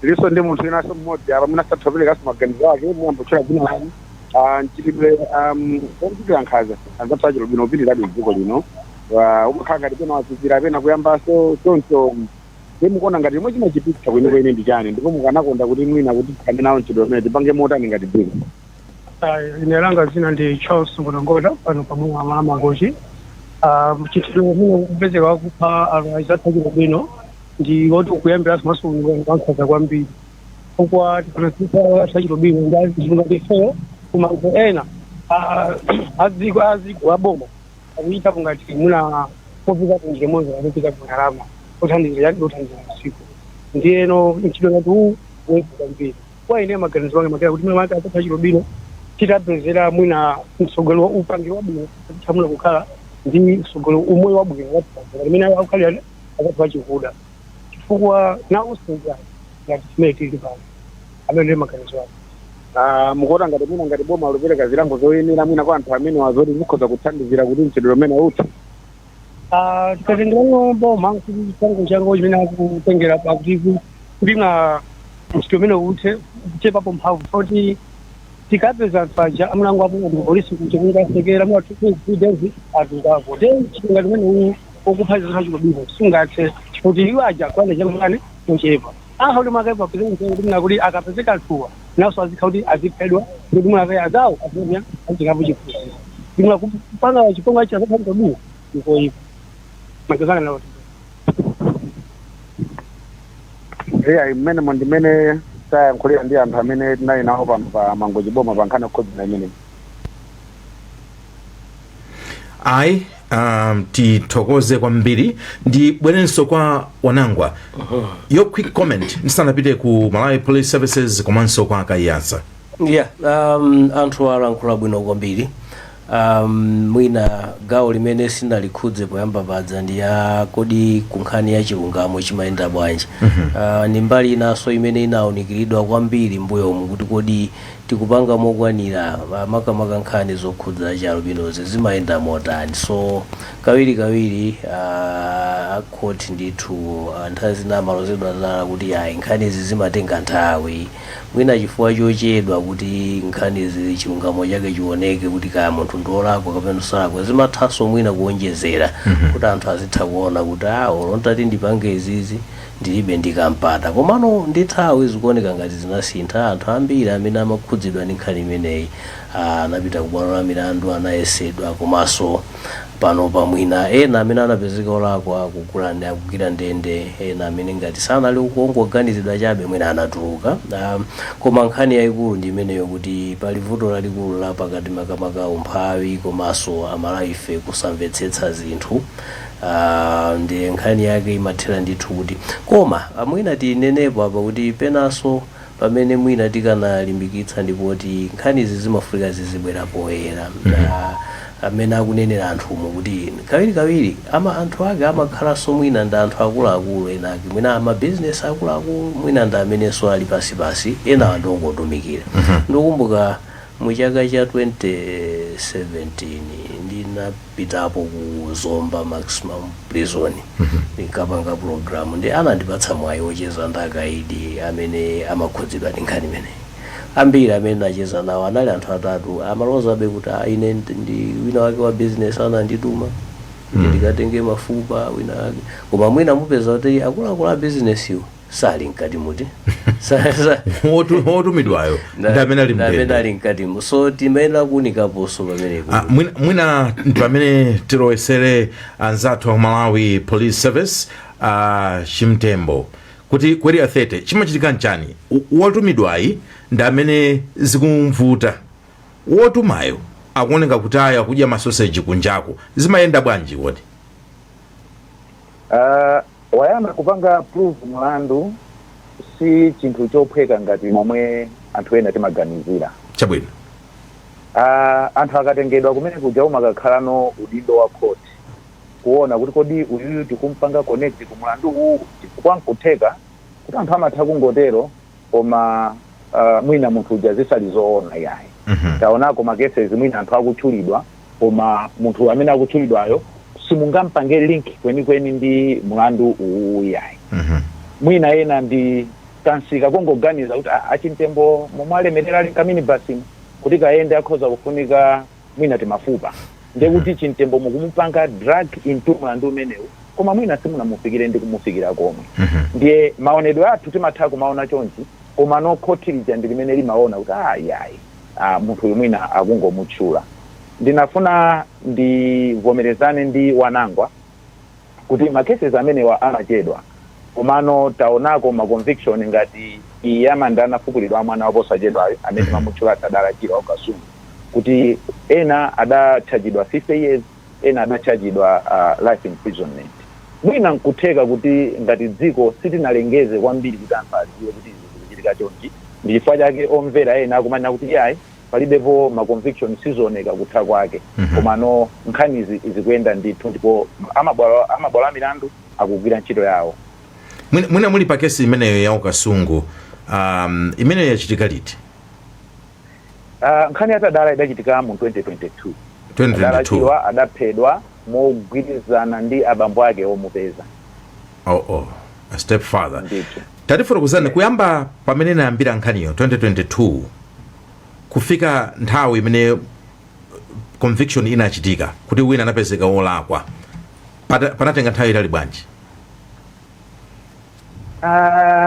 Tilinso ndi munthu winanso mmodzi apa mwina atha kuperekanso maganizo ake muyambe potchula dzina lanu Ah, mchitidwe um, omchitira nkhanza anzathu achialubino ukupitirirabe mdziko lino Ah, umakhala ngati pena wazizira pena kuyambanso choncho ndi mukuona ngati chomwe chimachititsa kwenikweni ndi chani ndipo mukanakonda kuti mwina kuti tithane nawo mchitidwe umenewu tipange motani ngati dziko ine langa dzina ndi charles ngolongola pano pamwe mwa mangochi mchitidwe umene ukupezeka wakupha anhu azathu achialubino ndi oti ukuyambira komanso wankhaza kwambiri chifukwa tikaonetsetsa achialubino ndi anthu ngati ifeyo koma anthu ena ah, aziko aziko aboma akuchitapo ngati muna popita kunjira monse akupita ku ndalama othandizira yani othandizira usiku ndiyeno mchitidwe ngati uwu wezi kwambiri kwa ine maganizo anga makera kuti mwina anzathu achialubino titawapezera mwina mtsogolo wa upangiro wabwino atithamuna kukhala ndi mtsogolo umoyo wabwino watitazera limene akukhalira anzathu achikuda chifukwa nawonso ndi anthu ngati mmene tili pano amenewo ndi maganizo anga Ah, mukuona ngati mwina ngati boma likupereka zilango zoyenera mwina kwa anthu amenewa zoti zikhoza kuthandizira kuti mchitidwe umenewu uthe Ah, tikatengerayo boma kuti chilango chango chimene akutengera pakuti ku- kuti na mchitidwe umenewu uthe kuchepapo mphamvu kuti tikapeza anthu aja amulango apo ndi polisi kuti kungasekera mwathu kudezi atungako de chipinga chimene uwu okupha anzathu achialubino sungathe kuti iwo aja kuyenda chakutani kuchepa akha kuti mwake papezeka mtengo kuti mwina kuti akapezeka anthuwa naso azikha kuti aziphedwa kuti mwina azawo azimya azikapo chiphunziro ndimwa kupanga chipongwe azathu achialubino ndikoyipa magazana nawo eya mmene mo ndimene tayankhulira ndi anthu amene tinali nawo pano pa mangochi boma pa nkhani yokhudza imeneyi ayi um, tithokoze kwambiri ndibwerenso kwa wanangwa your quick comment ndisanapite ku malawi police services komanso kwa kaiyatsa yeah um, anthu alankhula bwino kwambiri um, mwina gawo limene sinalikhudze poyamba paja ndi ya kodi kunkhani ya chilungamo chimayenda bwanji uh, ndi mbali inanso imene inaunikiridwa kwambiri mbuyomu kuti kodi tikupanga mokwanira ma- makamaka nkhani zokhudza chialubinozi zimayenda motani so kawirikawiri ah, a court ndithu ah, nthawi zina amalozedwa zala kuti ayi nkhanizi zimatenga nthawi mwina chifukwa chochedwa kuti nkhanizi chilungamo chake chioneke kuti kaya munthu ndiolakwa kapena salakwa zimathanso mwina kuonjezera kuti anthu azitha kuona kuti ah olo ntati ndipange izizi Ndilibe ndi ka mpata. Komano ndi nthawi zikuoneka ngati zinasintha, anthu ambiri amene amakhudzidwa ndi nkhani imeneyi anapita ku bwalo la milandu, anayesedwa komaso panopa mwina ena amene anapezeka olakwa akugwira ndende ena amene ngati sanali ongoganiziridwa chabe mwina anatuluka. Koma nkhani yaikulu ndi imeneyo kuti pali vuto lalikulu la pakati makamaka umphawi komaso aMalawife kusamvetsetsa zinthu. Aaa ndi nkhani yake imathera ndithu kuti koma ah, mwina tinenepo apa kuti penanso pamene mwina tikanalimbikitsa ndi poti nkhanizi zimafunika zizibwera poyera amene akunenera anthumu kuti kawirikawiri ama anthu ake amakhalanso mwina ndi anthu akuluakulu ena ake mwina amabizinesi akuluakulu mwina ndi amenenso ali pansipansi enawa ndi ongotumikira ndikukumbuka mu chaka cha 2017 ndina pitapo ku zomba maximum prison ndimakapanga program ndi anandipatsa mwayi wocheza ndi akaidi amene amakhudzidwa ndi nkhani imeneyi ambiri amene ndinacheza nawo anali anthu atatu amalozabe kuti "Ah, ine ndi- ndi wina wake wa business anandituma kuti ndikatenge mafupa wina wake koma mwina mupeza kuti akuluakulu a business iwo sali mkatimu koma Sa- sa- Wotu- wotumidwayo nda- ndi amene ali nda amene mndende ali mkatimo so timayenera kuunikaponso pamenepo Ah, mwina- mwina ndi pamene tilowesere anzathu a malawi police service a chimtembo kuti ku area 30 chimachitika nchani W- wotumidwayi ndi amene zikumvuta wotumayo akuoneka kuti ayi akudya masoseji kunjako zimayenda bwanji kodi Uh, wayamba kupanga prove mlandu si chinthu chophweka ngati momwe anthu ena timaganizira chabwino uh, anthu akatengedwa kumene kuja umakakhalano udindo wa court kuona kuti kodi uyuyu tikumpanga connect ku mlandu uwu chifukwa nkutheka kuti anthu amatha kungotero koma uh, mwina munthu uja zisali zoona yayi mm -hmm. taonako ma cases mwina anthu akutchulidwa koma munthu amene akutchulidwayo simungampange link kwenikweni ndi mlandu uwuwu iyayi mwina ena ndi kansika kongoganiza kuti "Ah, achimtembo momwe alemerera ali nkaminibasimu kuti kayende akhoza kufunika mwina timafupa ndekuti chimtembo mukumupanga drag into mlandu umenewu koma mwina simunamufikire ndi kumufikira komwe ndiye maonedwe athu timatha kumaona chonchi koma now khoti lija ndi limene limaona kuti ayayi ayi munthu uyu mwina akungomutchula. Ndinafuna ndivomerezane ndi Wanangwa kuti ma cases amenewa amachedwa komano taonako ma conviction ngati iyi ya manda anafukulidwa a mwana wa posachedwayu amene timamutchula Tadala Chirwa wa ku Kasungu kuti ena adatchajidwa 50 years, ena adatchajidwa a life imprisonment. Mwina n'kutheka kuti ngati dziko sitinalengeze kwambiri kuti anthu adziwe kuti izi zikuchitika chonchi, ndi chifukwa chake omvera ena akumanena kuti iyayi, palibepo ma conviction, sizioneka kutha kwake. Komano nkhanizi zikuyenda ndithu ndipo amabwalo a milandu akugwira ntchito yawo. Mwina, mwina muli pa kesi imeneyo ya uKasungu, um, imeneyo yachitika liti? Uh, nkhani ya tadala idachitika mu 2022 tadala chirwa adaphedwa mogwirizana ndi abambo ake omupeza oh, oh. A step father tatifotokozani kuyamba pamene inayambira nkhaniyo 2022 kufika nthawi imene conviction inachitika kuti wina anapezeka wolakwa panatenga nthawi yaitali bwanji uh,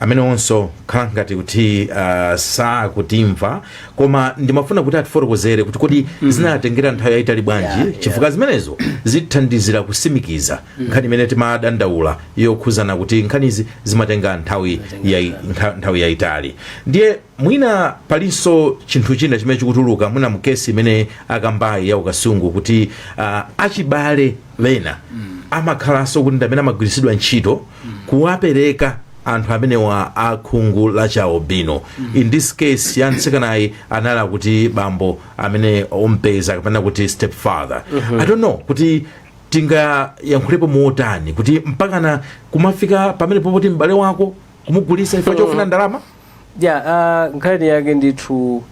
amenewonso zikukhala ngati kuti uh, sakutimva koma ndimafuna kuti atifotokozere kuti kodi mm. zinatengera nthawi yayitali bwanji yeah, yeah. chifukwa zimenezo zithandizira kusimikiza mm. nkhani imene timadandaula yokhuzana kuti nkhanizi zimatenga nthawi yai, nthawi yayitali ndiye mwina palinso chinthu china chimene chikutuluka mwina mkesi imene akambayi ya ukasungu kuti uh, achibale ena amakhalanso kuti ndi amene amagwiritsidwa ntchito kuwapereka anthu amenewa a khungu la chi albino in this case ya mtsikanayu anali akuti bambo amene ompeza kapena kuti step father i don't know kuti tingayankhulepo motani kuti mpakana kumafika pamenepo poti m'bale wako kumugulisa chifukwa chofuna ndalama Ya, a, nkhani yake ndithu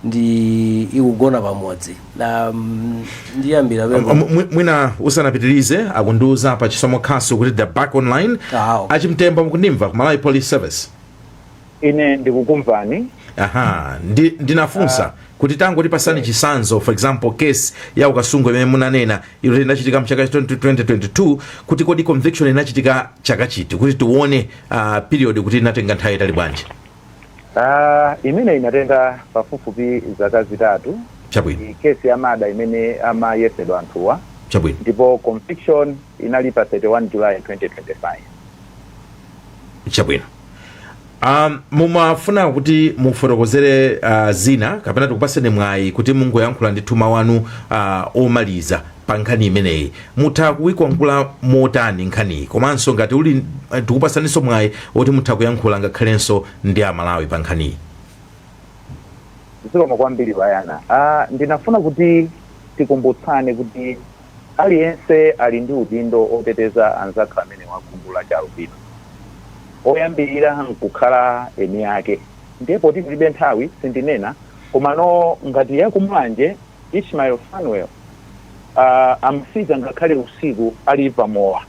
ndi ikugona pamodzi. Na, mm, ndiyambira Am- pemwe. am- mwi- mwina usanapitirize akundiuza pa chisomo khasu kuti they're back online Awo. achimtembo mukundimva ku malawi police service ine ndikukumvani aha ndi, ndinafunsa kuti tango tipasani chisanzo for example case ya ukasungu imene munanena ija inachitika mchaka cha 2022 kuti kodi conviction inachitika chaka chiti kuti tione uh, period kuti inatenga nthawi yaitali bwanji Ah, imene inatenga pafupifupi zaka zitatu chabwino ndi kesi ya mada imene amayesedwa anthuwa chabwino ndipo conviction inali pa 31 july 2025 chabwino um, mumafuna kuti mufotokozere uh, zina kapena tikupaseni mwayi kuti mungoyankhula ndithu mau anu uh, omaliza pa nkhani imeneyi mutha kuiomba mkota motani nkhaniyi komanso ngati muli tikupasaninso mwayi woti mutha kuyankhula ngakhalenso ndi amalawi pa nkhaniyi zikomo kwambiri bayana ah, ndinafuna kuti tikumbutsane kuti aliyense ali ndi udindo oteteza anzathu amene wakhungu la chialubino oyambirira nkukhala eni ake ndiye poti tilibe nthawi sindinena komano ngati ya ku Mulanje Ishmael Fanuel uh, amafika ngakhale usiku ali pamowa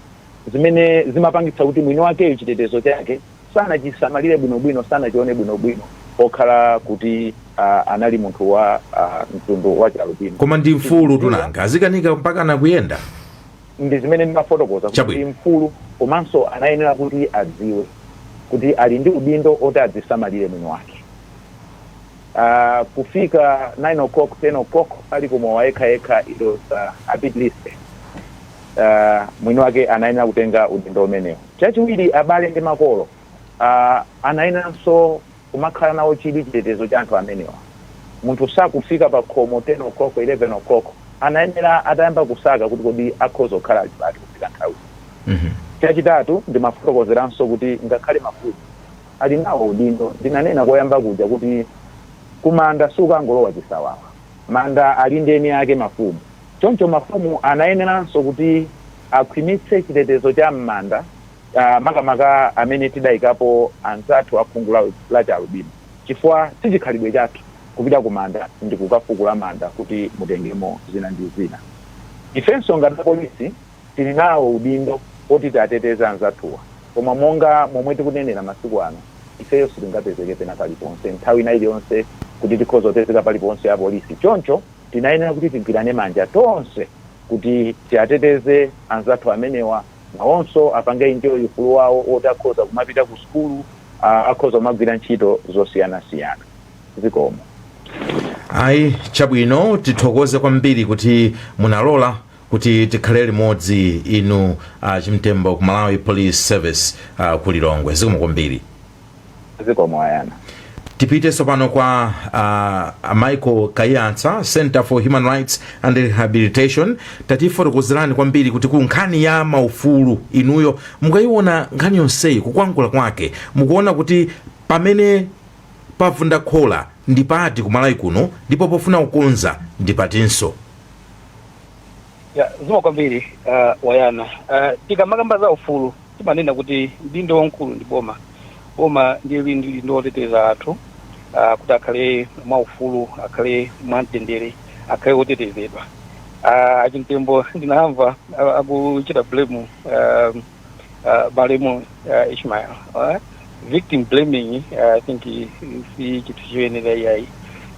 zimene zimapangitsa kuti mwini wakeyo chitetezo chake sanachisamalire bwinobwino sanachione bwinobwino pokhala kuti uh, anali munthu wa uh, mtundu wa chialubino koma ndi mfulu tu nanga azikanika mpaka nakuyenda ndi zimene ndimafotokoza kuti Chabwino. mfulu komanso anayenera kuti adziwe kuti ali ndi udindo oti adzisamalire mwini wake uh, kufika 9 o'clock 10 o'clock ali kumowa yekha yekha it was uh, a bit risky uh, mwini wake anayenera kutenga udindo umenewo chachiwiri abale ndi makolo uh, anayeneranso kumakhala nawo chidwi chitetezo cha anthu amenewa munthu sakufika pa khomo 10 o'clock 11 o'clock anayenera atayamba kusaka kuti kodi akhoza kukhala ali pati kufika nthawi chachitatu ndimafotokozeranso kuti ngakhale mafumu ali nawo udindo. Ndinanena koyamba kuja kuti kumanda sukangolowa chisawawa. Manda ali ndi eni ake, mafumu. Choncho mafumu anayeneranso kuti akhwimitse chitetezo cha m'manda makamaka amene tidaikapo anzathu a khungu la chialubino chifukwa si chikhalidwe chathu kupita kumanda ndi kukafukula manda kuti mutengemo zina ndi zina. Ifenso ngati apolisi Tili nawo udindo oti tiateteze anzathuwa, koma monga momwe tikunenera masiku ano, ifeyo sitingapezeke pena paliponse nthawi ina iliyonse kuti tikhoza kupezeka paliponse apolisi. Choncho tinayenera kuti tigwirane manja tonse kuti tiateteze anzathu amenewa, nawonso apange enjoy ufulu wawo woti akhoza kumapita kusukulu, akhoza kumagwira ntchito zosiyanasiyana. Zikomo. Ayi, chabwino. Tithokoze kwambiri kuti munalola. kuti tikhale limodzi inu a chimtembo ku malawi police service uh, ku lilongwe zikomo kwambiri zikomo a yana tipite tsopano kwa uh, a michael kayatsa center for human rights and rehabilitation tatifotokozerani kwambiri kuti ku nkhani ya maufulu inuyo mukayiona nkhani yonseyi kukwangula kwake mukuona kuti pamene pavunda khola ndi pati kumalawi kuno ndipo pofuna kukonza ndi patinso ya zikomo kwambiri uh, a yana uh, tikamakamba za ufulu timanena kuti udindo waukulu ndi boma boma ndiye lili ndi udindo woteteza anthu uh, kuti akhale mwa ufulu akhale mwa mtendere akhale wotetezedwa uh, achimtembo ndinamva uh, akuchita blame uh, uh, malemu uh, ishmael uh, victim blaming uh, i think si chinthu choyenera iyayi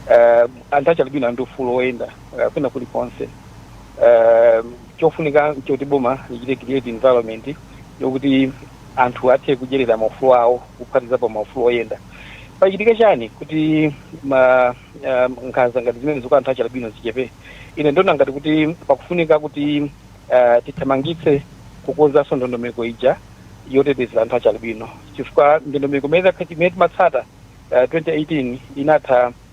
uh, anthu achialubino ali ndi ufulu woyenda uh, kwina kulikonse uh, chofunika nchoti boma lichite create environment yokuti anthu athe kudyerera maufulu awo kuphatizapo maufulu oyenda pachitika chani kuti ma uh, nkhanza ngati zimenezi kwa anthu achialubino zichepe ine ndona ngati kuti pakufunika kuti uh, tithamangitse kukonzanso ndondomeko ija yoteteza anthu achialubino chifukwa ndondomeko imene timatsata uh, 2018 inatha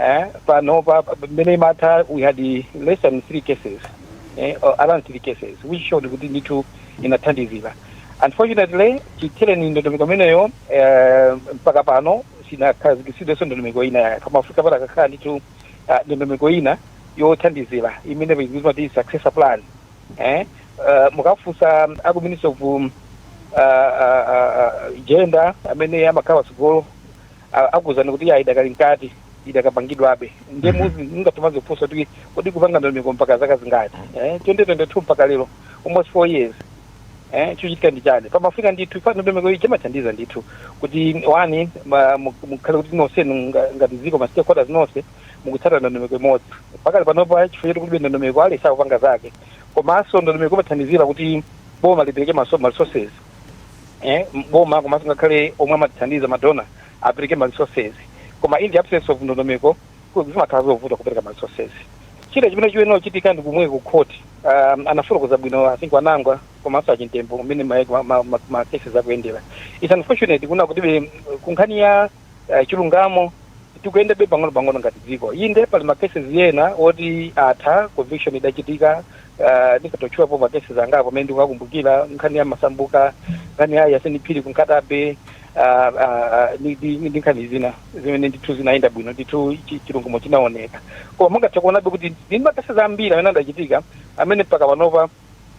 eh panopa mmene imatha we had less than three cases eh, around three cases which showed kuti ndithu inathandizira unfortunately chithereni ndondomeko imeneyo eh, mpaka pano sinakhazikitsidwenso ndondomeko ina yake pamafunika pakanakhala ndithu ah, ndondomeko ina yothandizira imene ikutchedwa kuti successor plan eh, uh, mukafunsa aku ministry of um, uh, uh, uh, gender amene amakhala patsogolo a- akuwuzani kuti ya idakali mkati idakapangidwabe ndiye Mhm. munthu ungathe kumadzifunsa kuti kodi kupanga ndondomeko mpaka zaka zingati eh, 2022 mpaka lero almost four years eh, chochitika ndi chani pamafunika ndithu chifukwa ndondomeko iyi imathandiza ndithu kuti wani ma- mu- mukhale kuti nonsenu nga- ngati dziko ma stakeholders nonse mukutsata ndondomeko imodzi pakali panopa chifukwa choti kulibe ndondomeko aliyense akupanga zake komanso ndondomeko imathandizira kuti boma lipereke ma- ma resources eh, boma komanso ngakhale omwe amatithandiza madona apereke ma resources koma in the absence of ndondomeko ku- zimakhala zovuta kupereka ma resources china chimene chiyenera kuchitika ndi komwe ku court um, anafotokoza bwino i think a wanangwa komanso achimtembo mmene ma, ma, ma, ma, ma cases akuyendera it's unfortunate kuna kuti kunkhani ya uh, chilungamo tikuyendabe pang'ono-pang'ono ngati dziko inde pali ma cases ena oti atha conviction idachitika uh, nditha kutchulapo ma cases angapo amene ndikuwakumbukira nkhani ya masambuka nkhani ya yaseni phiri ku Nkhata Bay uh, uh, ndi- ndi ndi nkhani zina zimene ndithu zinayenda bwino ndithu chi- chilungamo chinaoneka koma mungathe kuonabe kuti ndi ma cases ambiri amene adachitika amene mpaka panopa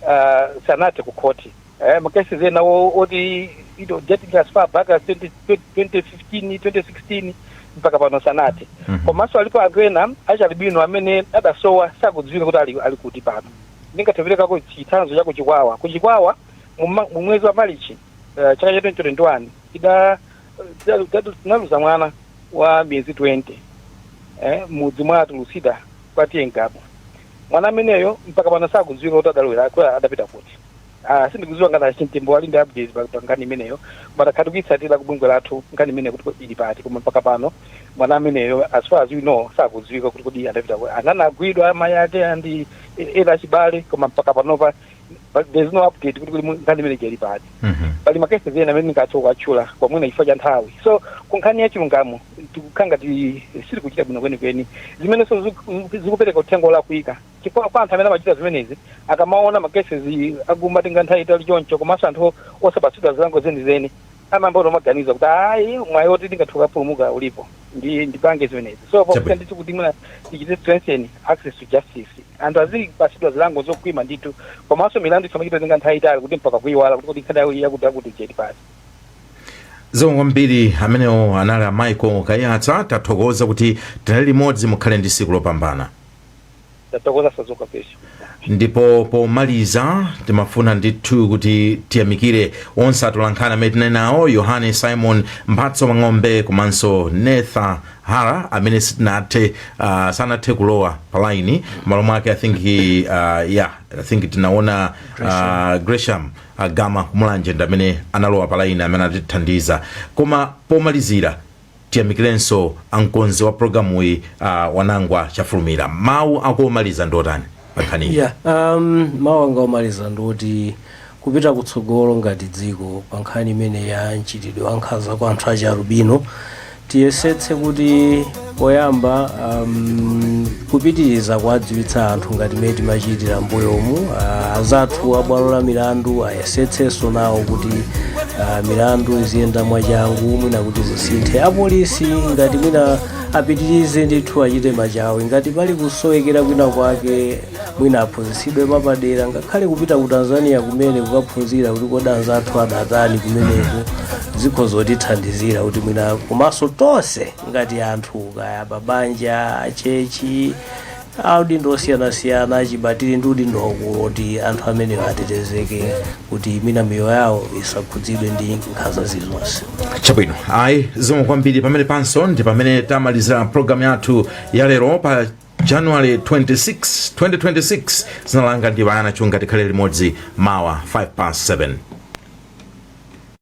uh, sanathe ku khoti eh, makesi ena o- oti you know, dating as far back as 20, 2015 2016 mpaka pano sanathe komanso alipo anthu ena achialubino amene adasowa sakudziwika kuti ali, ali kuti pano ndingathe kuperekako chitsanzo cha kuchikwawa kuchikwawa muma- mu mwezi wa malichi uh, chaka cha 2021 ida tidalu- tidalu- tinaluza mwana wa miyezi 20 eh, m'mudzi mwa a Tulusida kwa TA Ngabu mwana ameneyo mpaka pano sakudziwika kuti adalowera kuti adapita kuti Ah, sindikudziwa ngati a Chimtembo ali ndi updates pa pa nkhani imeneyo ma takhala tikuitsatira ku bungwe lathu nkhani imeneyo kuti kodi ili pati koma mpaka pano mwana ameneyo as far as we know sakudziwika kuti kodi adapita kuti ana anagwidwa amayi ake ndi ena achibale koma mpaka panopa pa- there's no update kuti kuti mu- nkhani imene ija ili pati Mhm. pali makesi ena amene ndingathe kuwatchula koma mwina chifukwa cha nthawi so ku nkhani ya chilungamo tikukhala ngati sitikuchita bwino kwenikweni zimenenso ziku- zikupereka uthenga olakwika chifukwa kwa anthu amene amachita zimenezi akamaona makesi akumatenga nthawi yaitali choncho komanso anthu osapatsidwa zilango zenizeni amayamba kumaganiza kuti ayi mwayi oti ndingathe kupulumuka ulipo ndipange zimenezi so Chabwino. pakuti ndithu kuti mwina tichite strengthen access to justice Anthu azipatsidwa zilango zokhwima ndithu komanso milandu isamachite kutenga nthawi yaitali kuti mpaka kuiwala kuti kodi nkhani yawo iyi yakuti yakuti ija ili pati. Zikomo kwambiri amenewo anali a Michael Kayatsa tathokoza kuti tinali limodzi mukhale ndi tsiku lopambana. Tathokoza Sadzoka Pesha. ndipo pomaliza timafuna ndithu kuti tiyamikire onse atolankhani amene tinali nawo yohane simon mphatso mang'ombe komanso netha hara amene sitinathe uh, sanathe kulowa pa line malo mwake i think he, uh, yeah i think tinaona uh, gresham uh, gama kumulanje ndi amene analowa pa line amene atithandiza koma pomalizira tiyamikirenso amkonzi wa programu iyi uh, wanangwa chafulumira mawu akomaliza ndi otani pa nkhaniyi yeah, um, mawu anga omaliza ndioti kupita kutsogolo ngati dziko pa nkhani imeneyi ya mchitidwe wa nkhanza kwa anthu achi alubino tiyesetse kuti poyamba um, kupitiriza kuwadziwitsa anthu ngati mmene timachitira mbuyomu uh, azathu a bwalo la milandu ayesetsenso nawo kuti uh, milandu iziyenda mwachangu mwina kuti zisinthe apolisi ngati mwina apitirize ndithu achite machawi ngati pali kusowekera kwina kwake mwina aphunzitsidwe mwapadera ngakhale kupita ku tanzania kumene kukaphunzira kuti kodi anzathu adatani kumeneko zikhoza kutithandizira kuti mwina komanso tonse ngati anthu kaya amabanja achechi a udindo osiyanasiyana achibale tili ndi udindo waukulu woti anthu amenewo atetezeke kuti mwina miyoyo yawo isakhudzidwe ndi nkhanza zilizonse chabwino ayi zikomo kwambiri pamenepanso ndi pamene tamalizira programu yathu ya lero pa january 26 2026 dzina langa ndi bayana chunga tikhale limodzi mawa 5 past 7